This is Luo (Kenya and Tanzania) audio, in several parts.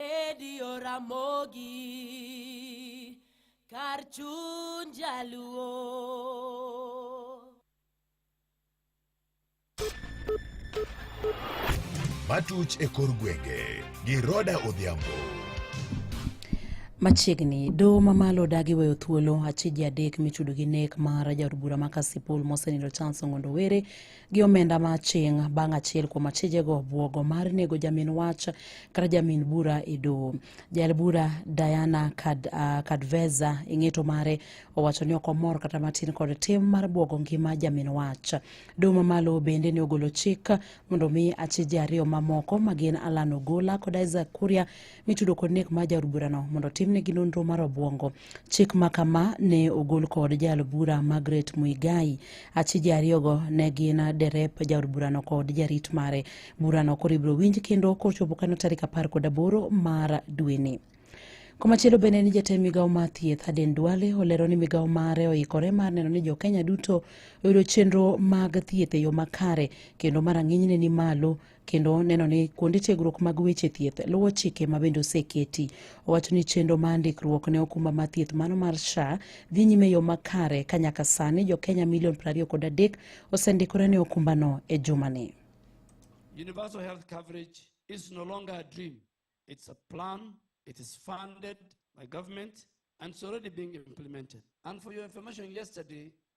Edi Oramogi kar chuny jaluo. Matuch e kor gwenge gi Roda Odhiambo. Machiegni doho mamalo odagi weyo thuolo achiji adek michudo gi nek mar jaod bura ma Kasipul mosenindo Charles Ong'ondo Were gi omenda ma aching' bang' achiel kuom achijego bwogo mar nego jamin wach kata jamin bura e doho jael bura diana Kad, uh, kadveza e ng'eto mare owacho ni ok omor kata matin kod tim mar bwogo ngima jamin wach doho mamalo bende ne ogolo chik mondo mi achije ariyo mamoko ma gin alan ogola kod isaac kuria mitudo kod nek mar jaod burano mondo timnegi nonro mar obwongo Chik ma kama ne ogol kod jaal bura Margaret Muigai. Achije ariyogo ne gin derep jaod burano kod jarit mare. Burano koro ibiro winj kendo kochopo kano tarik apar kod aboro mar dweni. Komachielo bende ni jatend migawo mar thieth Aden Duale olero ni migawo mare oikore mar neno ni jokenya duto oyudo chenro mag thieth e yo makare kendo marang'inyne ni malo kendo neno ni kuonde tiegruok mag weche thieth luwo chike ma bende oseketi. Owacho ni chenro ma ndikruok ne okumba ma thieth mano mar SHA dhi nyime yo makare ka nyaka sani jo Kenya milion 20 kod adek osendikore ne okumbano e jumani. Universal health coverage is no longer a dream. It's a plan. It is funded by government and it's already being implemented. And for your information, yesterday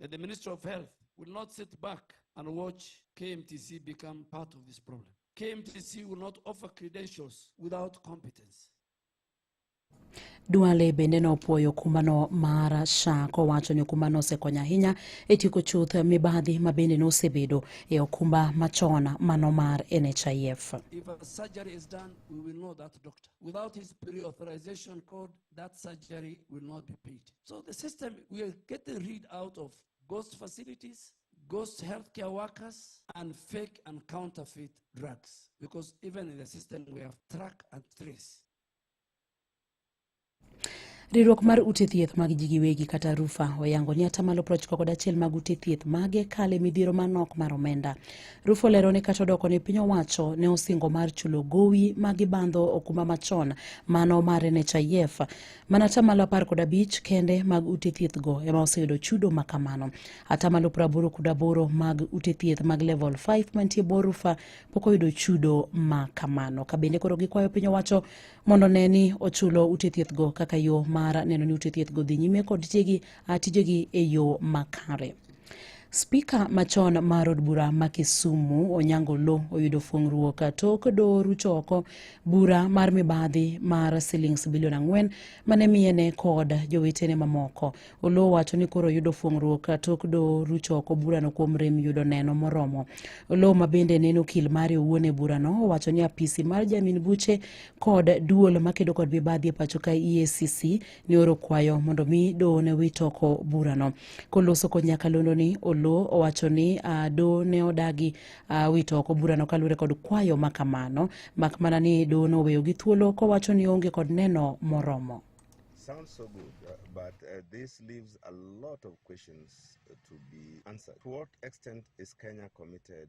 that the Ministry of Health will not sit back and watch KMTC become part of this problem. KMTC will not offer credentials without competence. Duale bende nopuoyo kumbano mar SHA kowacho ni okumbano osekonyo ahinya e tieko chuth mibadhi ma bende nosebedo e okumba machon mano mar NHIF. If a surgery is done, we will know that doctor. Without his pre-authorization code, that surgery will not be paid. So the system, we are getting rid out of ghost facilities, ghost healthcare workers, and fake and counterfeit drugs. Because even in the system, we have track and trace. riwruok mar ute thieth mag ji giwegi kata rufa oyango ni atamalo prochiko kod achiel mag ute thieth mage kale midhiero manok mar omenda Rufo lero ni kata odoko ni piny owacho ne osingo mar chulo gowi ma gibandho okumba machon mano mar NHIF. Mana atamalo apar kod abich kende mag ute thieth go ema oseyudo chudo ma kamano. Atamalo praboro kod aboro mag ute thieth mag level 5 mantie bor Rufa pok oyudo chudo ma kamano. Ka bende koro gikwayo piny owacho mondo ne ni ochulo ute thieth go kaka yo mar neno ni ute thieth go dhi nyime kod tijegi e yo makare. Spika machon mar od bura ma Kisumu Onyango Lo oyudo fuong'ruok tok doho rucho oko bura mar mibadhi mar silings bilion ang'wen mane miyene kod jowetene mamoko. Oloo wacho ni koro oyudo fuong'ruok tok doho rucho oko burano kuom rem yudo neno moromo. Oloo ma bende neno okil mare owuon e burano owacho ni apisi mar jamin buche kod duol makedo kod mibadhi e pacho ka EACC ne oro kwayo mondo mi doho ne wit oko burano. Koloso kod nyakalondoni, Oloo owacho ni ah, doho ne odagi ah, wito oko burano kaluwore kod kwayo ma kamano, mak mana ni doho noweyo gi thuolo kowacho ni onge kod neno moromo. sounds so good, uh, but uh, this leaves a lot of questions uh, to be answered. To what extent is Kenya committed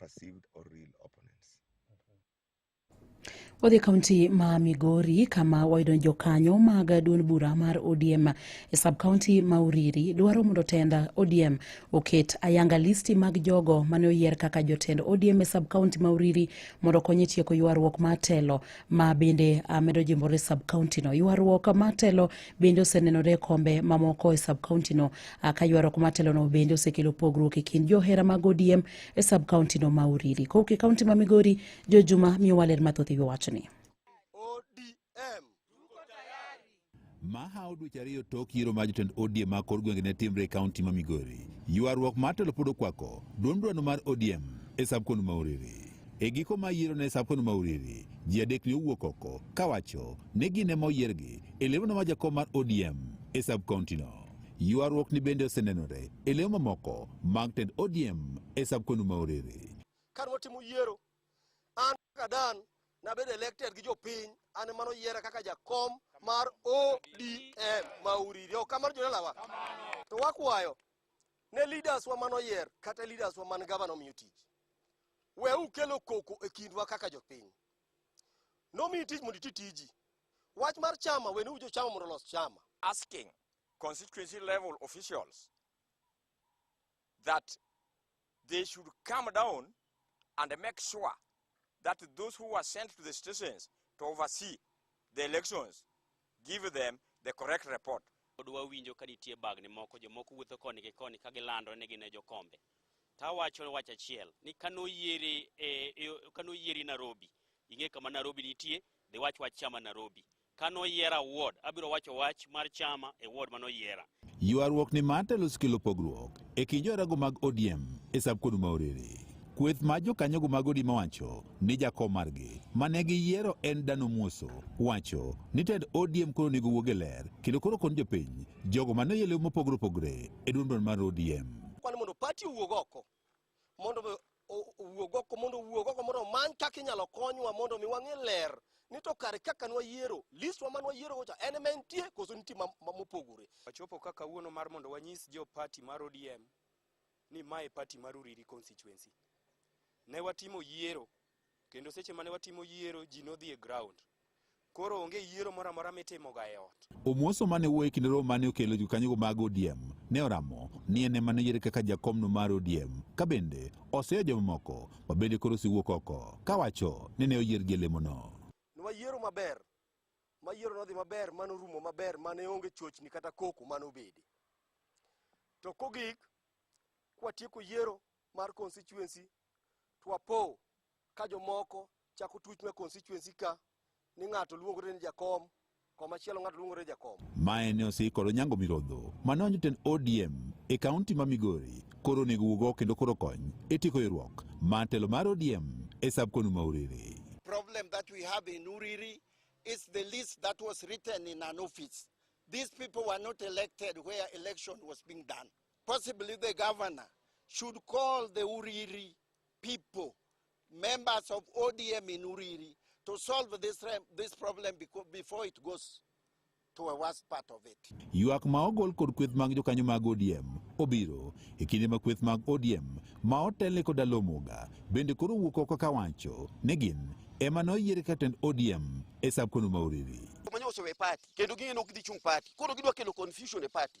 perceived or real opponents. Wadhi e kaunti ma Migori kama wayudo jokanyo mag duond bura mar ODM e sub kaunti ma Uriri dwaro mondo tenda ODM oket ayanga listi mag jogo mane oyier kaka jotend ODM e sub kaunti ma Uriri mondo okonye tieko ywaruok mar telo ma bende medo jimbore sub kaunti no. Ywaruok mar telo bende osenenore e kombe mamoko e sub kaunti no ka ywaruok mar telo no bende osekelo pogruok e kind johera mag ODM e sub county no ma Uriri. Kowuok e county ma Migori, Jo Juma miyowa ler mathoth ewi wachni. Mahaw dweche ariyo tok yiero ma jotend ODM ma kor gwenge ne timre e kaunti ma Migori. Ywaruok mar telo pod okwako duond dwano mar ODM e sub county ma Uriri. E giko ma yiero ne Sapon Mauriri, ji adek ne owuok oko kawacho ni gin ema oyiergi e lemo ma jakom mar ODM e sub county no. Ywaruok ni bende osenenore e leo mamoko mag tend ODM e sab kwenu ma orere. Kane watimo yiero, an kaka Dan nabedo elected gi jopiny, an ema noyiera kaka jakom mar ODM ma Uriri. Ok kamano jodalawa? To wakwayo ne leaders wa manoyier kata leaders wa man gavana omiyo tich. We ukelo koko e kindwa kaka jopiny. Nomiyi tich mondo iti tiji. Wach mar chama, we ni ujo chama mondo olos chama. asking constituency level officials that they should come down and make sure that those who are sent to the stations to oversee the elections give them the correct report. Pod wawinjo ka nitie bagni moko jomoko wuotho koni gi koni ka gilando ni gin e jokombe. Tawacho wach achiel ni kano yieri e, e, kano yieri Nairobi, ing'e kama Nairobi nitie, dhi wach wach chama Nairobi. Ka noyiera awuod, abiro wacho wach mar chama e wuod ma noyiera. Ywaruok ni mar telo sikelo pogruok e kind jorago mag ODM e sab kod ma orere. Kweth ma jokanyogo mag ODM wacho ni jakom margi ma ne giyiero en Dano Muoso wacho ni tend ODM koro onego wuog e ler kendo koro kon jopiny jogo ma noyelew mopogore opogore e duond duond mar ODM. Kwan mondo pati owuog oko mondo mi o- owuog oko mondo owuog oko mondo omany kaka inyalo konywa mondo mi wang'e ler ni to kare kaka nwayiero listwa ma nwayiero gocha en ema entie koso nitie ma- ma- mopogore wachopo ka kawuono mar mondo wanyis jo pati mar odm ni mae pati mar uriri constituency ne watimo yiero Kendo seche mane watimo yiero ji nodhi e ground. Koro onge yiero moro amora mitimoga e ot. Omoso mane wuoyo e kinde romo mane okelo jokanyogo mag ODM ne oramo ni en ema noyiere kaka jakomno mar ODM ka bende oseyo jomamoko ma bende koro osewuok oko kawacho ni ne oyiergi e lemono. Nwayiero maber, ma yiero nodhi maber, ma norumo maber, ma ne onge chochni kata koko ma nobede. To kogik, kwatieko yiero mar constituency to apo ka jomoko chako tuch ma constituency ka ni ng'ato luongore ni jakom komachielo ng'ato luongore ni jakom Mae ne osikolo Nyango Mirodho mane en jotend ODM e kaunti ma Migori koro onego wuog oko kendo koro kony e tieko ywaruok mar telo mar ODM e sub konu ma Uriri. problem that we have in Uriri is the list that was written in an office. These people were not elected where election was being done. possibly the governor should call the Uriri people, members of ODM in Uriri, to solve this, this problem before it goes to a worse part of it. Ywak ma ogol kod kweth mag jokanyo mag ODM obiro e kinde ma kweth mag ODM ma otele kod Alomoga bende koro wuok oko ka wacho ni gin ema noyiere ka tend ODM e sab kono ma Uriri. Manya osewe party kendo ging'e nok dhi chung' party koro gidwa kelo confusion e party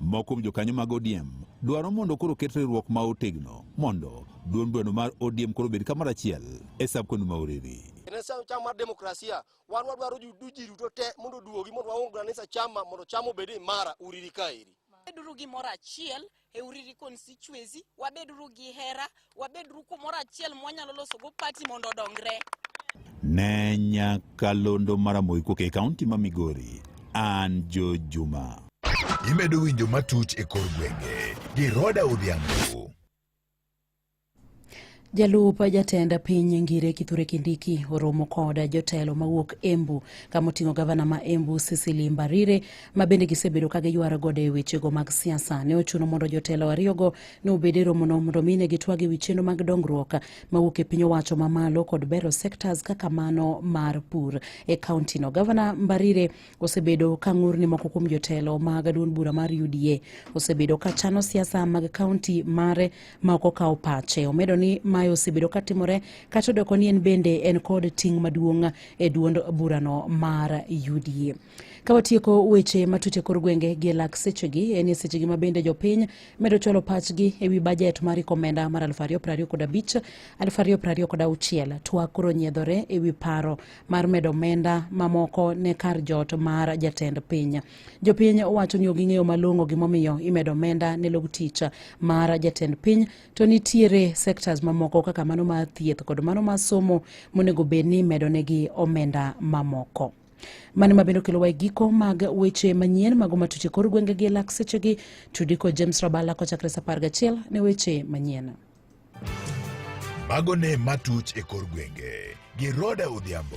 Moko kuom jokanyo mag ODM dwaro mondo koro ket riwruok ma otegno mondo duond bweno mar ODM koro bed kamoro achiel e sab koni ma Oriri. Nesa chama mar demokrasia wan wadwaro ji duto te mondo duogi mondo waungra nesa chama mondo chama obed imara Oriri kaeri. Beduru gi moro achiel e Uriri constituency, wabeduru gi hera, Wabedru kumoro achiel mwanyalo loso go party mondo odongre. Ne nyakalondo mara moikuok e kaunti ma Migori, an Jo Juma. Imedo winjo matuch e kor gwenge gi Roda Odhiambo. Jalup jatend piny Ngire Kithure Kindiki oromo koda jotelo mawuok Embu kama oting'o gavana ma Embu Cecily Mbarire ma bende gisebedo ka giywaro gode e wechego mag siasa. Ne ochuno mondo jotelo ariyogo ne obed e romono mondo mi ne gitwag e wi chenro mag dongruok mawuok e piny owacho mamalo kod bero sectors kaka mano mar pur e kauntino. Gavana Mbarire osebedo ka ng'ur ni moko kuom jotelo mag duond bura mar UDA osebedo ka chano siasa mag kaunti mare ma ok okawo pache. Omedo ni mae osebedo ka timore kata odoko ni en bende en kod ting' maduong' e duond burano mar UDA. Ka watieko weche matut e kor gwenge gi lak sechegi en ni sechegi ma bende jopiny medo chwalo pachgi e wi bajet mar iko omenda mar 2025 2026 twa koro nyiedhore e wi paro mar medo omenda mamoko ne kar jot mar jatend piny. Jopiny wacho ni ok ging'eyo malong'o gimomiyo imedo omenda ne log tich mar jatend piny to nitiere sectors mamoko kaka mano mar thieth kod mano mar somo monego bed ni imedonegi omenda mamoko. mano ma bende okelowa e giko mag weche manyien mago matuche kor gwenge gi lak sechegi tudi kod james rabala kochakre sa apar gachiel ne weche manyien mago ne matuch e kor gwenge gi roda odhiambo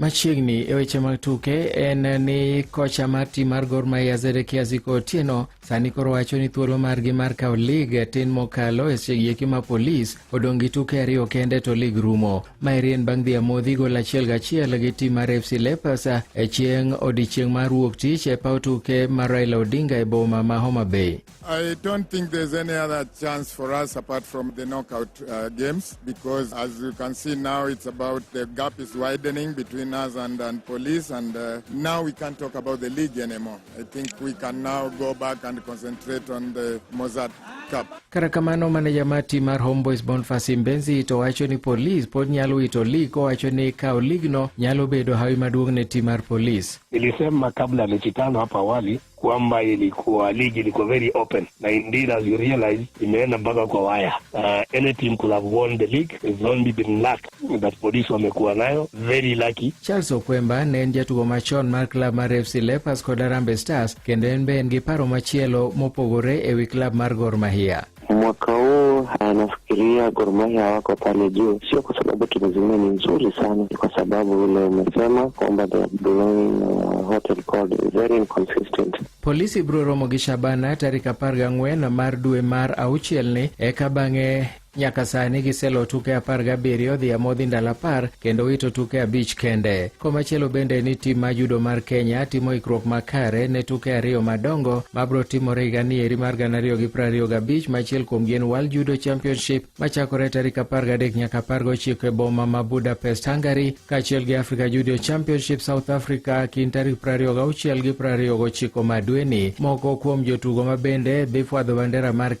Machiegni e weche mag tuke en ni kocha mar tim mar Gor Mahia Zedekia Ziko Otieno sani koro wacho ni thuolo margi mar kawo lig tin mokalo e sechegieki ma polis odong' gi tuke ariyo kende to lig rumo. Maeri en bang' dhi amodhi gol achiel gachiel gi tim mar FC Leopards e chieng' odiechieng' mar wuok tich e paw tuke mar Raila Odinga e boma ma Homa Bay. I don't think there's any other chance for us apart from the knockout uh, games because, as you can see now, it's about the gap is widening between us and, and police, and uh, now we can't talk about the league anymore. I think we can now go back and concentrate on the Mozart Cup. Kata kamano maneja mar tim mar Homeboys Boniface Mbenzi to wacho ni polis pod nyalo wito lig kowacho ni kawo ligno nyalo bedo hawi maduong' ne tim mar polis. Nilisema kabla mechi tano hapa awali kwamba ilikuwa ligi ilikuwa very open na indeed as you realize imeenda mpaka kwa waya. Uh, any team could have won the league it's only been luck that polisi wamekuwa nayo very lucky. Charles Okwemba ne en jatugo machon mar klab mar FC Leopards kod Harambee Stars kendo en be en gi paro machielo mopogore e wi klab mar Gor Mahia. Mwaka huu ah, nafikiria Gor Mahia wako pale juu, sio kwa sababu timu zingine ni nzuri sana, ni kwa sababu ule umesema kwamba they are blowing uh, hot and cold, very inconsistent. Polisi biro romo gi Shabana tarik apar gang'wen mar dwe mar auchielni eka bang'e nyaka sani giselo tuke apar gabiriyo dhi amodhi ndalo apar kendo wito tuke abich kende. Komachielo bende ni tim ma judo mar Kenya timo ikruok makare ne tuke ariyo madongo mabro timore higa ni eri mar gana ariyo gi prariyo gabich machiel kuomgi en World Judo Championship machakore tarik apar gadek nyaka apar gochiko e boma ma Budapest, Hungary, kaachiel gi Africa Judo Championship South Africa kind tarik prariyo gauchiel gi prariyo gochiko ma dweni. Moko kuom jotugo ma bende dhi fwadho bandera mar Kenya